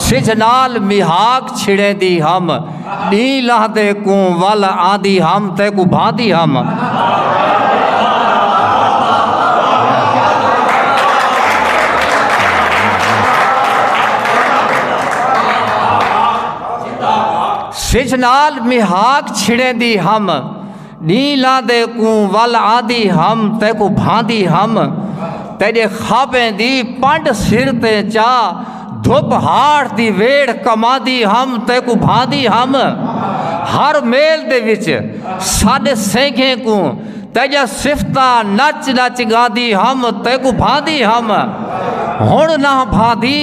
سجھ نال میہاک چھڑیندی ہم ݙینہہ لہندے کوں ول آندی ہم تیکوں بھاندی ہم سجھ نال میہاک چھڑیندی ہم ݙینہہ لاندے کوں ول آندی ہم تیکوں بھاندی ہم تیݙے خوابیں دی پنڈ سر تے چا دھپ ہاٹھ دی ویڑھ کماندی ہم تیکوں بھاندی ہم ہر میل دے وچ ساݙے سینگھیں کوں تیجا صفتہ نچ نچ گاندی ہم تیکوں بھاندی ہم ہن نہ بھاندی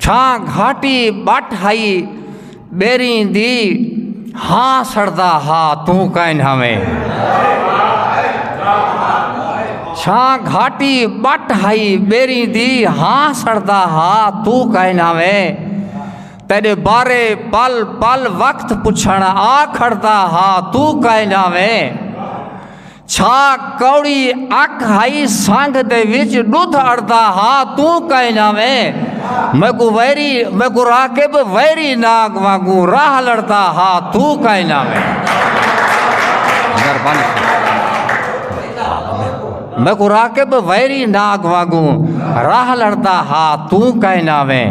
چھاں گھاٹی ٻٹ ہئی ٻیریں دی ہاں سڑدا ہا توں کائن ہاویں چھاں گھاٹی ٻٹ ہئی ٻیریں دی ہاں سڑدا ہا توں کائن ہاویں تیرے بارے پل پل وقت پچھن آ کھڑدا ہا توں کائن ہاویں چھا کوڑی اک ہئی سنگ دے وچ ڈدھ اڑدا ہا توں کئیں نہ ویں میکوں ویری میکوں راکب ویری ناگ وانگوں راہ لڑدا ہا توں کئیں نہ ویں میکوں راکب ویری ناگ وانگوں راہ لڑدا ہا توں کئیں نہ ویں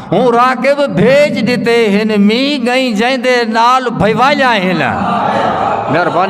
ہوں راکب بھیج دیتے ہن می گئیں جائیں دے نال بھیوالیاں ہن مہربانی